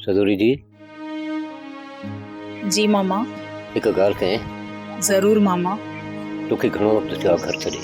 سدوري جي. جي ماما. هڪ ڳالهه ڪئين. ضرور ماما. توکي گهڻو وقت ٿيو آهي گهر ڇڏي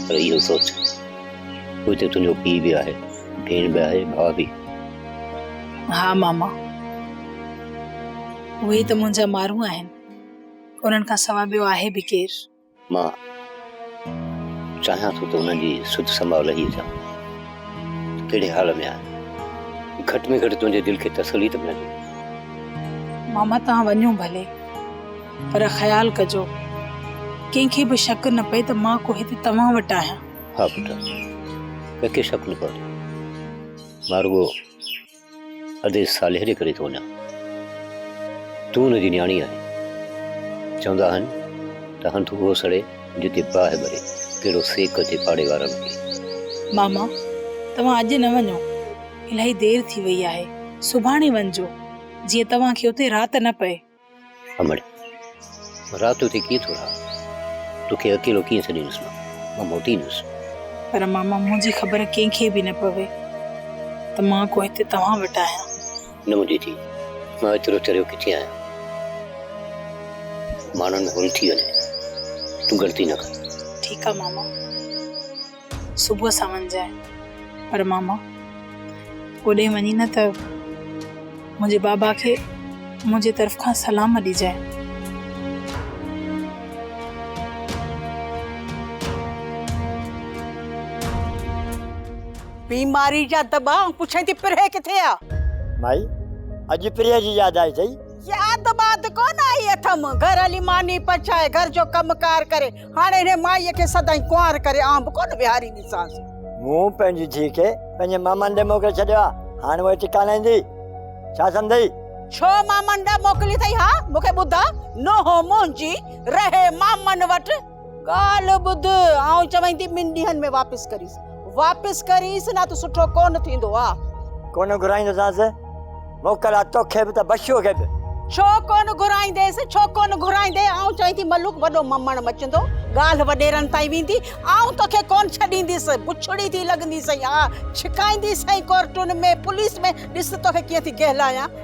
پر اهو سوچ هو هتي تنهنجو پيء به آهي ڀيڻ به آهي ڀاء به ها ماما اهي ته منهنجا مارون آهن انهن کان سواء ٻيو آهي به ڪير مان چاهيان ٿو ته انهن جي سڌ سماء لهي اچان ته ڪهڙي حال ۾ آهن. گهٽ ۾ گهٽ تنهنجي دل کي تسلي ته ملندي. ماما توهان وڃو ڀلي پر خيال ڪجو ڪنهن کي به شڪ نه پئي ته مان ڪو هتي توهان وٽ آهيان. ها پٽ ڪنهن کي شڪ نه پوندو. مان رڳو. ادي صالح جي ڪري ٿو وڃان، تون هن جي نياڻي آهين. چوندا آهن ته هنڌ اهو سڙي جتي باهه ٻري، ڪهڙو سيڪ اچي پاڙي وارن کي. ماما توهان اڄ نه وڃو، الاهي دير ٿي وئي آهي، سڀاڻي وڃجو، جيئن توهان کي اتي رات نه پئي. امڙ! رات جو اتي ڪيئن ٿو رهان؟ توکي اڪيلو ڪيئن ڇڏيندس مان؟ مان موٽيندس. پر ماما منهنجي خبر ڪنهن کي به نه پوي ته مان ڪو هتي توهان وٽ آهيان. نه منهنجي ڌي، مان ايترو چريو ڪٿي آهيان. ماڻهن ۾ هول ٿي وڃي. تون ڳڻتي نه ڪر. ٺيڪ آهي ماما. صبح ساڻ جانء. پر ماما اوڏي وڃي نه ته منهنجي بابا کي منهنجي طرف کان سلام ڏجانء. بيماري جا دٻا ۽ پڇين ٿي پرهه ڪٿي آ؟ مائي اڄ پرهه جي ياد آئي اٿئي؟ ياد واد ڪونه آئي اٿم. گهر هلي ماني پچائي، گهر جو ڪم ڪار ڪري، هاڻي هن مائيء کي سدائين ڪنوار ڪري آنء به ڪونه ويهارينديسانس. مون پنهنجي ڌيء کي پنهنجي مامن ڏي موڪلي ڇڏيو آ، هاڻ اهي ٽڪا نه ايندي. ڇا سمجهيئي؟ ڇو مامن ڏي موڪلي اٿئي؟ ها، مون کي ٻڌاء. نوحو منهنجي رهي مامن وٽ. ڳالهه ٻڌ، آئون چوين ٿي ٻن ڏينهن ۾ واپس ڪريس. واپس ڪريس نه ته سٺو ڪونه ٿيندو آ. ڪونه گهرائيندوسانس موڪل آ توکي به ته بشو کي به. ڇو ڪونه گهرائينديس ڇو ڪونه گهرائيندي آئون چئين ٿي ملوڪ وڏو ممڻ مچندو ڳالهه وڏيرن تائين ويندي آئون توکي ڪونه ڇڏينديس بڇڙي ٿي لڳندي سئي آ ڇڪائيندي سئي ڪورٽن ۾ پوليس ۾ ڏس ته توکي ڪيئن ٿي ڪهلايان.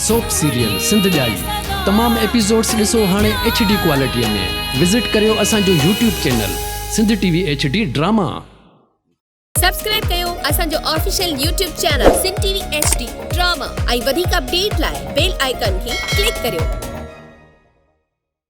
سوپ سيريل سنڌ ڄائي تمام ايپيسوڊس ڏسو هاڻي ايڇ ڊي ڪوالٽي ۾ وزٽ ڪريو اسان جو YouTube channel Sindh T V H D drama. Subscribe ڪيو اسان جو official YouTube channel Sindh T V H D drama ۽ وڌيڪ اپڊيٽ لاء بيل آئيڪان کي ڪلڪ ڪريو.